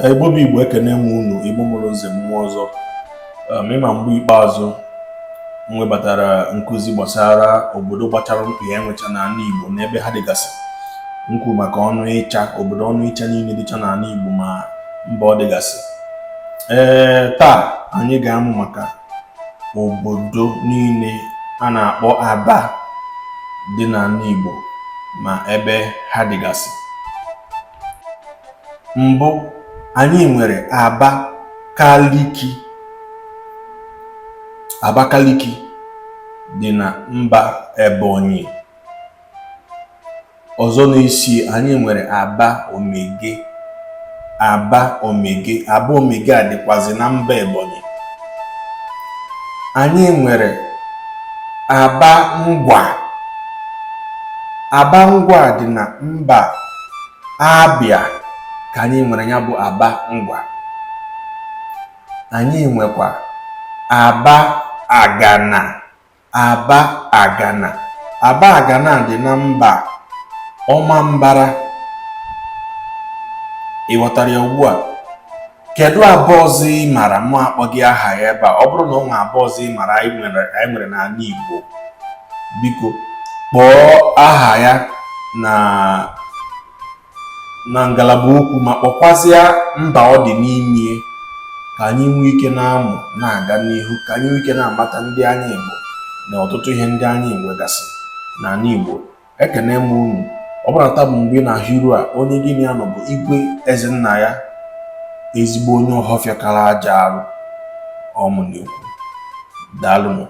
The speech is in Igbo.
igbo bụ igbo ekene m unu igbo mụrụ nze mụọ ọzọ um, ị ma mgbe ikpeazụ m webatara nkụzi gbasara obodo gbachara mkpị e nwecha n'ala igbo na ebe ha dịgasị m kwu maka ọnịcha obodo ọnịcha niile dịcha n'ala igbo ma mba ọ dịgasị ee taa anyị ga-amụ maka obodo niile a na-akpọ aba dị n'ala igbo ma ebe ha dịgasị mbụ anyị nwere Abakaliki Abakaliki dị na mba Ebonyi ọzọ na-esi anyị nwere Aba Omege Aba Omege Aba Omege a dịkwazi na mba Ebonyi anyị nwere Aba Ngwa Aba Ngwa dị na mba abịa ka anyị nwere ya bụ aba ngwa anyị nwekwa abagana abagana abagana dị na mba ọmambara ị ghọtara ya ugbu a kedu Aba ọzọ ị mara mụ akpọghị aha ya ebe a ọ bụrụ na ọ nwe Aba ọzọ ị mara anyị nwere n'ala Igbo biko kpọọ aha ya na na ngalaba okwu ma kpọkwazịa mba ọ dị n'ime ka anyị nwee ike na-amụ na-aga n'ihu ka anyị nwee ike na-amata ndị anyị bụ na ọtụtụ ihe ndị anyị nwegasị n'ala Igbo ekene m unu ọ bụrụ na taa bụ mbụ ị na-ahụ iru a onye gị na ya nọ bụ igwe eze nna ya ezigbo onye ọhọfịa kara aja arụ ọ mụ na-ekwu daalụnụ